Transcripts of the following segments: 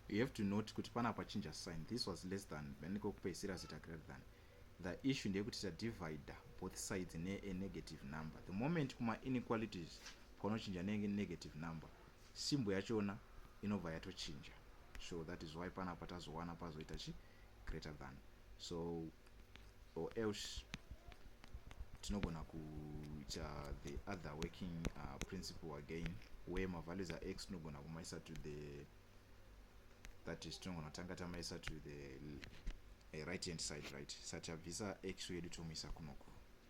you have to note kuti pana pachinja sign this was less than then kwekupeisira zita greater than the issue ndeyekuti tadivider both sides neenegative number the moment kumainequalities kwaunochinja nenegative number simbo yachona inobva yatochinja so that is why panapa tazowana pazoita chii greater than so or else tinogona kuita the other working uh, principle again where mavalues ax tinogona kumaisa to the that is tinogona kutanga tamaisa to the eh, right hand side right satabvisa x yedu tomuisa kunoku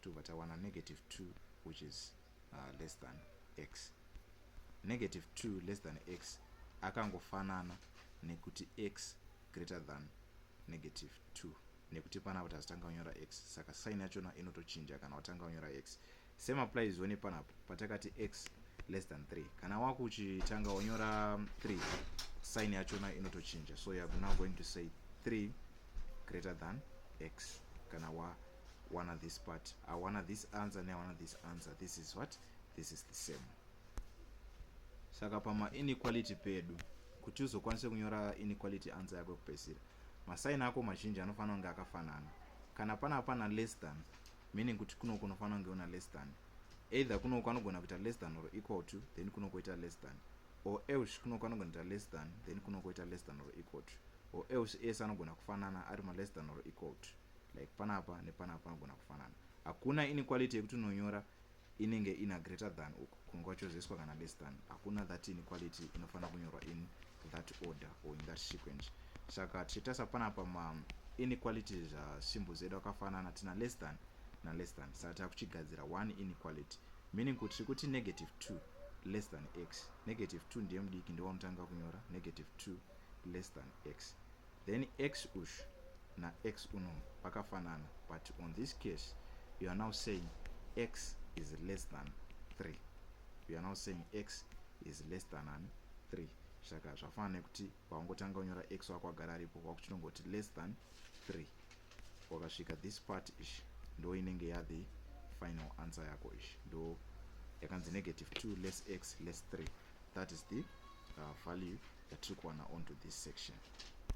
tobva tawana negative 2 which is uh, less than x negative 2 less than x akangofanana nekuti x greater than negative 2 nekuti pana kuti hazitanga kunyora x saka sign yachona inotochinja kana watanga kunyora x same applies one panapo patakati x less than 3 kana waku uchitanga wanyora 3 sign yachona inotochinja so youare now going to say 3 greater than x kana wa wana this part awana this answer neawana this answer this is what this is the same saka pamainequality pedu kuti uzokwanise kunyora inequality answer yako yekupedzisira masaini ako mazhinji anofanira kunge akafanana kana pana pana less than meaning kuti kunoko unofanira kunge una less than either kunoko anogona kuita less than or equal to then kunokoita less than or else kunoko anogona kuita less than then kunokoita less than or equal to or else ese anogona kufanana ari ma less than or equal to like panapa nepanapa panogona kufanana hakuna inequality yekuti unonyora inenge ina greater than uku kunge kwachozeswa kana less than hakuna that inequality inofanira kunyorwa in that order or in that sequence saka tichitarisa panapa ma inequality zvasimbo zedu akafanana tina less than na less than saka takuchigadzira one inequality meaning kuti tiri kuti negative two less than x negative two ndiye mudiki ndiwanotanga kunyora negative two less than x Then ex ush na ex uno vakafanana but on this case you are now saying ex is less than 3 you are now saying ex is less than an 3 saka zvafanana nekuti paungotanga unyora ex wako agara aripo wakuchitongoti less than 3 wakasvika this part ish ndo inenge yathe final answer yako ish ndo yakanzi negative 2 less x less 3 that is the uh, value yatiri kuwana onto this section